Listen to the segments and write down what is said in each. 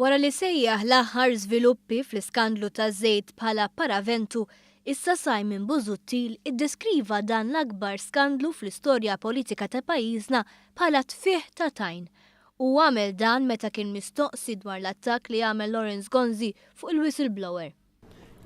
Wara li sejjaħ l-aħħar żviluppi fl-iskandlu taż-żejt bħala paraventu, issa Simon Busuttil iddeskriva dan l-akbar skandlu fl-istorja politika ta' pajjiżna bħala tfigħ ta' tajn. Hu għamel dan meta kien mistoqsi dwar l-attakk li għamel Lawrence Gonzi fuq il-whistleblower.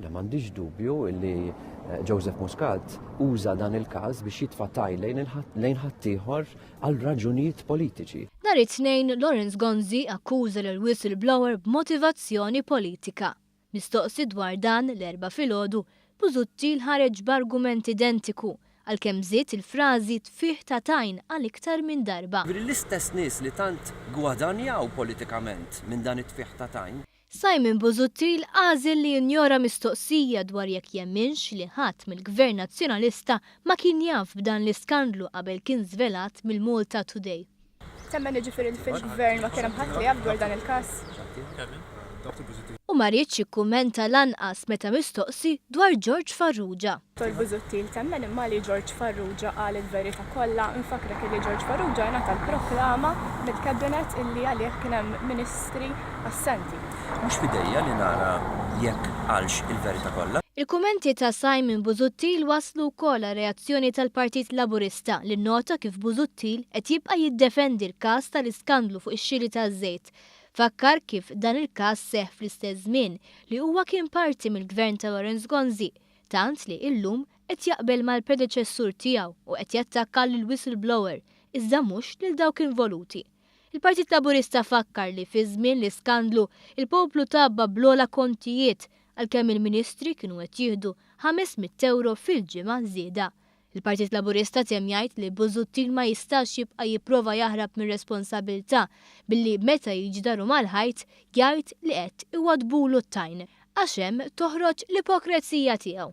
Le m'għandix dubju li eh, Joseph Muscat uża dan il-każ biex jitfa' tajl lejn ħaddieħor għal raġunijiet politiċi. Nhar it-Tnejn, Lawrence Gonzi akkuża lil whistleblower b'motivazzjoni politika. Mistoqsi dwar dan l-Erbgħa filgħodu, Busuttil ħareġ b'argument identiku għalkemm żied il-frażi tfigħ ta' tajn għal iktar minn darba. Jiġifieri l-istess nies li tant gwadanjaw politikament minn dan it-tfigħ ta' tajn. Simon Busuttil għażel li jinjora mistoqsija dwar jekk jemminx li ħadd mill-Gvern Nazzjonalista ma kien jaf b'dan l-iskandlu qabel kien żvelat mill-MaltaToday. Temmen jiġifieri li fil-Gvern ma kien hemm ħadd li jaf dwar dan il-każ? U ma riedx jikkummenta lanqas meta mistoqsi dwar George Farrugia. Dottor Busuttil temmen imma li George Farrugia qal il-verita kollha. Infakkrek illi George Farrugia ingħata l-proklama mill-Cabinet illi għalih kien hemm Ministri assenti. Mhux f'idejja li nara jekk qalx il-verita kollha. Il-kummenti ta' Simon Busuttil wasslu wkoll għal reazzjoni tal-Partit Laburista li nnota kif Busuttil qed jibqa' jiddefendi l-każ tal-iskandlu fuq ix-xiri taż-żejt. Fakkar kif dan il-każ seħħ fl-istess żmien li huwa kien parti mill-Gvern ta' Lawrence Gonzi tant li illum qed jaqbel mal-predeċessur tiegħu u qed jattakka lill-whistleblower iżda mhux lil dawk involuti. Il-Partit Laburista fakkar li fi żmien l-iskandlu l-poplu tgħabba bl-ogħla kontijiet għalkemm il-Ministri kienu qed jieħdu ħames mitt ewro fil-ġimgħa żieda Il-Partit Laburista temm jgħid li Busuttil ma jistax jibqa' jipprova jaħrab mir-responsabbiltà billi meta jiġi daru mal-ħajt jgħid li qed iwaddbulu t-tajn għax hemm toħroġ l-ipokrezija tiegħu.